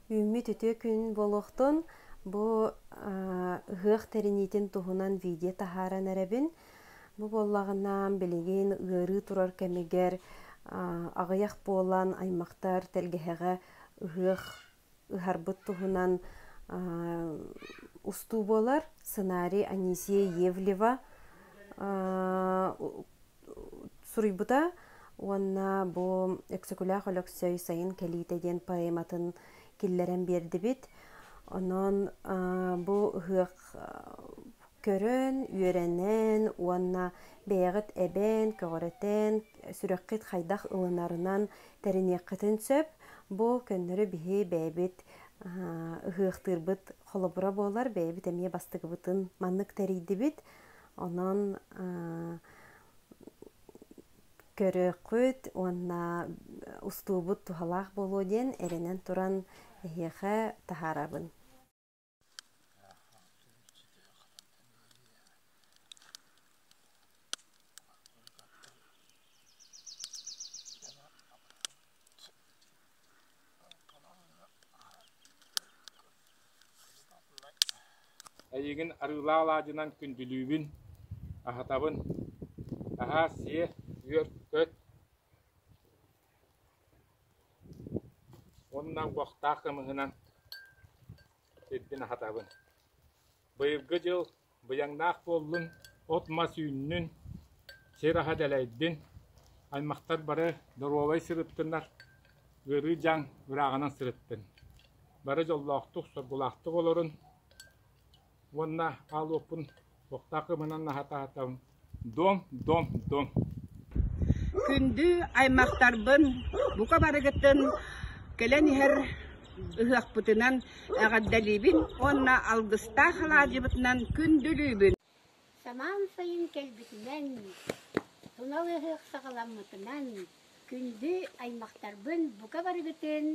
Үүммүт үтүө күн буолуохтун. Бу ыһыах тэриниитин туһунан видео таһааран эрэбин. Бу буоллаҕына билигин ыарыы турар кэмигэр аҕыйах буолан аймахтар тэлгэһэҕэ ыһыах ыһарбыт туһунан устуу буолар. Сценарий Анисия Евлева суруйбута уонна бу Өксөкүлээх Өлөксөй Сайын кэлиитэ диэн поэматын киллэрэн биэрдибит. Онон бу ыһыах көрөн, үөрэнэн уонна бэйэҕит эбээн, көҕүрэтэн, сүрэххит хайдах ылынарынан тэриниэххитин сөп. Бу көннөрү биһи бэйэбит ыһыахтыырбыт холобура буолар, бэйэбит эмиэ бастакыбытын маннык тэрийдибит. Онон көрүөххүт уонна устуубут туһалаах буолуо диэн эрэнэн туран эһиэхэ таһаарабын Эйигин арыылаах алаадьынан күндүлүүбүн, аһатабын, аһаа сиэ, үөр, көт уонна бохтаах кымыһынан сирбин аһатабын Быйылгы дьыл быйаҥнаах буоллун, от-мас үүннүн, сир аһа дэлэйдин, аймахтар бары доруобай сырыттыннар, ыарыы дьаҥ ырааҕынан сырыттын, бары дьоллоохтук, соргулаахтык олорун уонна аал уоппун туохтаах ымынан аһатаатым Күндү аймахтарбын бука барыгытын кэлэн иһэр ыһыахпытынан эҕэрдэлиибин уонна алгыстаах алаадьыбытынан күндүлүүбүн! Самаан сайын кэлбитинэн, Тунал ыһыах саҕаламмытынан күндү аймахтарбын бука барыгытын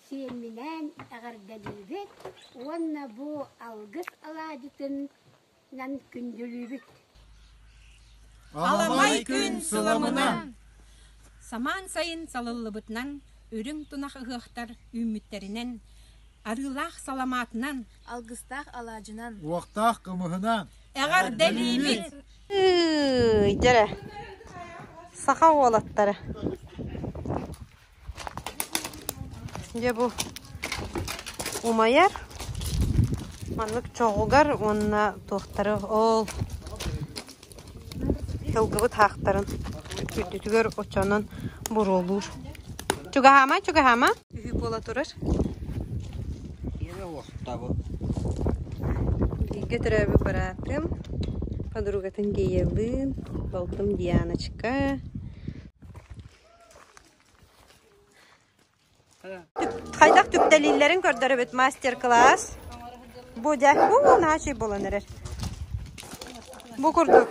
сиэмминээн эҕэрдэлиибит уонна бу алгыс алаадьытын Аламай күн суламына Самаан сайын салыллыбытынан үрүҥ тунах ыһыахтар үүммүттэринэн арыылаах саламаатынан алгыстаах алаадьынан уохтаах кымыһына эҕэр дэлиибит дьэрэ саха уолаттара Дьэ бу умайар маннык чоҕугар уонна туохтары ол сылгыбыт хаахтарын үрдүтүгэр очонон буруолуур. Чугаһаама, чугаһаама. Үһү буола турар. Бииргэ төрөөбүт быраатым, подругатын Геялыын, балтым Дианочка, Хайдах түптэлииллэрин көрдөрөбүт мастер-класс. Будя, бу наһаа чэй буолан эрэр. Бу курдук.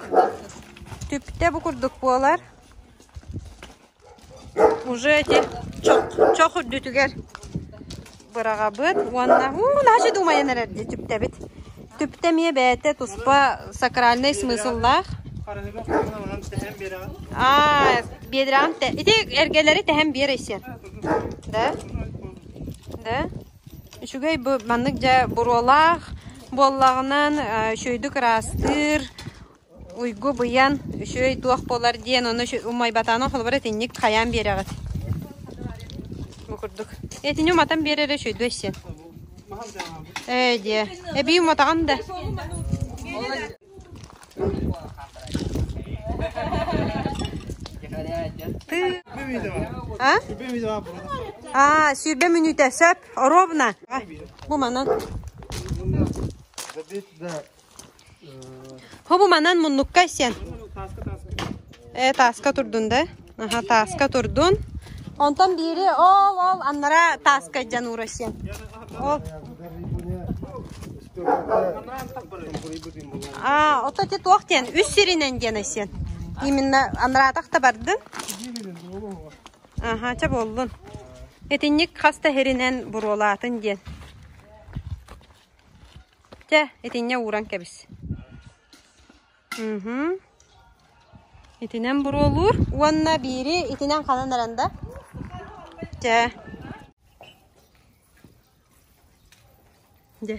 Түптэ бу курдук буолар. Уже эти чох, чох үрдүтүгэр быраҕабыт уонна уу наһачы думайан эрэр дии түптэбит. Түптэ эмиэ бэйэтэ туспа сакральнай смысыллаах. Аа, биэдрэҕим тэ... Ити эргэлэри тэһэн биэр эйсиэр. Да? Да? Үчүгэй бу маннык дьэ буруолаах буоллаҕынан өшөйдүк ыраастыыр, уйгу быйан, үчүгэй туох буолар диэн ону умайбатаҕынан холобур итинник хайаан биэрэҕит. Бу курдук. Итини уматан биэрэр эрэ үчүгэйдүү эссиэн. Ээ диэ. Эбии уматаҕын да. А? А, сүүрбэ мүнүүтэ сөп, оруобна. Бу манан. Хобу манан муннукка сен. Э тааска турдун да. Аха тааска турдун. Онтон биири ол ол аннара тааска дьан уура сен. Ол А, ото те туох тен үс сиринен дена сен. Именно анратах та бардын. Аха, ча боллун. Этинник хаста херинен буруолаатын диэн. Чэ, итиннэ ууран кэбис. Уһун. Итинэн буруолуур уонна биири итинэн ханан эрэн да. Чэ. Дьэ.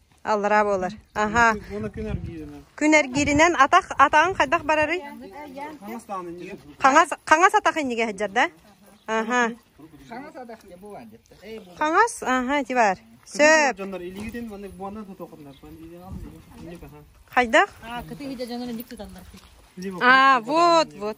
Аллараа буолар. Аһаа. Күн эргииринэн атах атаҕың хайдах барарый? Хаҥас хаҥас атах иннигэ сылдьар да? Аха. Хаҥас атах не бывает детте. Хаҥас, аха, ти бар. Сөп. Жандар илигитин маны буанна тутоқындар. Хайдах? А, кыты хиде жандар ник туталлар. А, вот, вот.